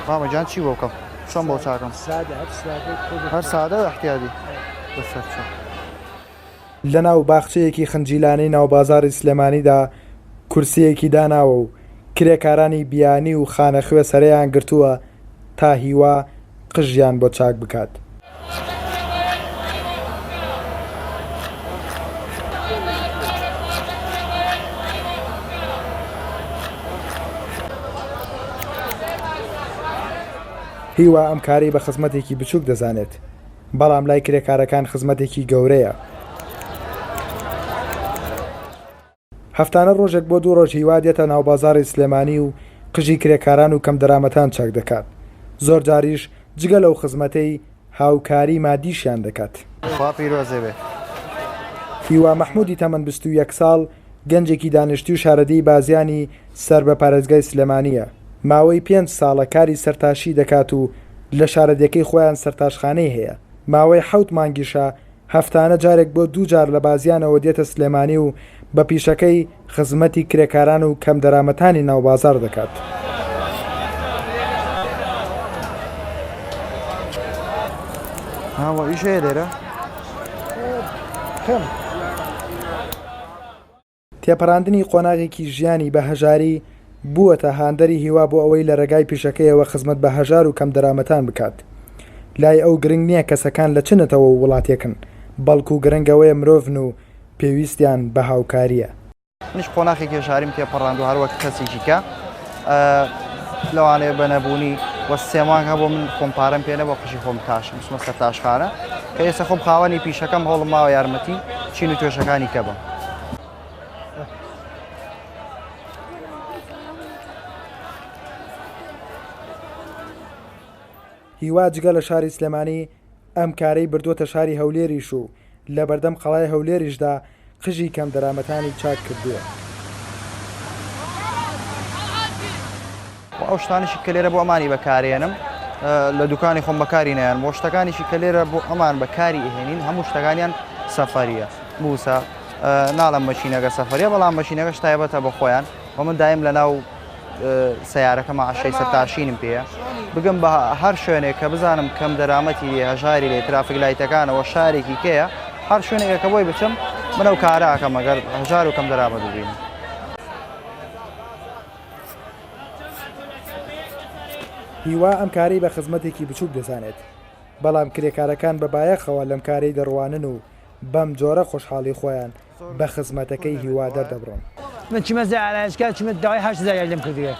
مامە گیان چی بۆ بکەم چۆن بۆ چاکەم هەر سادە و احتیادی بەسەر چۆن. لەناو باخچەیەکی خنجیلانەی ناوبازاڕی سلێمانیدا کورسییەکی داناوە و کرێکارانی بیانی و خانەخوێ سەرێیان گرتووە تا هیوا قژیان بۆ چاک بکات. هیوا ئەم کارەی بە خزمەتێکی بچووک دەزانێت، بەڵام لای کرێکارەکان خزمەتێکی گەورەیە. هەفتانە ڕۆژێک بۆ دوو ڕۆژ هیوا دێتە ناوبازاڕی سلێمانی و قژی کرێکاران و کەمدەرامەتان چاک دەکات، زۆرجاریش جگە لەو خزمەتەی، هاوکاری مادیشیان دەکات. خوا پیرۆزێ بێ. هیوا مەحمودی تەمەن بیست و یەک ساڵ، گەنجێکی دانیشتوی شارەدێی بازیانی سەر بە پارێزگای سلێمانییە، ماوەی پێنج ساڵە کاری سەرتاشی دەکات و لە شارەدێکەی خۆیان سەرتاشخانەی هەیە، ماوەی حەوت مانگیشە هەفتانە جارێک بۆ دوو جار لە بازیانەوە دێتە سلێمانی و بە پیشەکەی خزمەتی کرێکاران و کەمدەرامەتانی ناو بازاڕ دەکات. تێپەڕاندنی قۆناغێکی ژیانی بە هەژاری، بووەتە هاندەری هیوا بۆ ئەوەی لە رێگای پیشەکەیەوە خزمەت بە هەژار و کەمدەرامەتان بکات. لای ئەو گرنگ نییە کەسەکان لە چ نەتەوە و وڵاتێکن، بەڵکو گرنگ ئەوەیە مرۆڤن و پێویستیان بە هاوکارییە. منیش قۆناخێکی هەژاریم تێپەڕاند و هەروەک کەسێکی کە لەوانەیە بە نەبوونی وە سێ مانگ هەبوو من خۆم پارەم پێ نەبوو قژی خۆم تاشم چوومە سەر تاشخانە کە ئێستا خۆم خاوەنی پیشەکەم هەوڵم ماوە یارمەتی چین و توێشەکانی کە بم هیوا جگە لە شاری سلێمانی ئەم کارەی بردووەتە شاری هەولێریش و لە بەردەم قەڵای هەولێریشدا قژی کەمدەرامەتانی چاک کردووە. وە ئەو شتانەشی کە لێرە بۆ ئەمانی بە کار ئێنم لە دوکانی خۆم بەکاری نایەنم وە شتەکانیشی کە لێرە بۆ ئەمان بە کاری ئێهێنین هەموو شتەکانیان سەفەریە بووسە ناڵم مەشینەکە سەفەریە بەڵام مەشینەکەش تایبەتە بە خۆیان وە من دایم لە ناو سەیارەکە مەعەشەی سەرتاشینم پێیە بگەم بە هەر شوێنێک کە بزانم کەم دەرامەتی لێ هەژاری لێ ترافیک لایتەکانەوە شارێکی کەیە هەر شوێنێکە کە بۆی بچم منە و کاراکەم ئەگەر هەژار و کەم دەرامەت ببین. هیوا ئەم کارەی بە خزمەتێکی بچووک دەزانێت بەڵام کرێکارەکان بە بایەخەوە لەم کارەی دەڕوانن و بەم جۆرە خۆشحاڵی خۆیان بە خزمەتەکەی هیوا دەردەبڕم. من چومە زای ئارایشگا چومە داوای هەشت هەزار یاری لێم کردبێ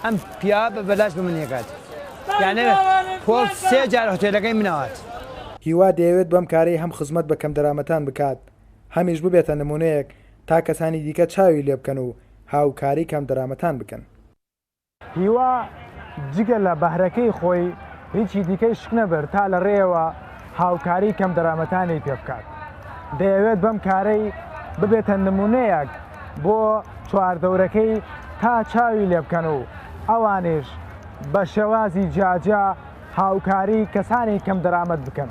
ئەم پیاوە بە بەلاش بە من یەکات یانێ خۆ سێ جار هۆتێلەکەی من ئەوات. هیوا دەیەوێت بەم کارەی هەم خزمەت بە کەمدەرامەتان بکات هەمیش ببێتە نمونەیەک تا کەسانی دیکە چاوی لێبکەن و هاوکاری کەمدەرامەتان بکەن. هیوا جگە لە بەهرەکەی خۆی هیچی دیکەی شک نەبرد تا لە رێیەوە هاوکاری کەمدەرامەتانی پێ بکات. دەیەوێت بەم کارەی ببێتە نمونەیەک بۆ چواردەورەکەی تا چاوی لێ بکەن و ئەوانیش بە شێوازی جیاجیا هاوکاری کەسانی کەمدەرامەت بکەن.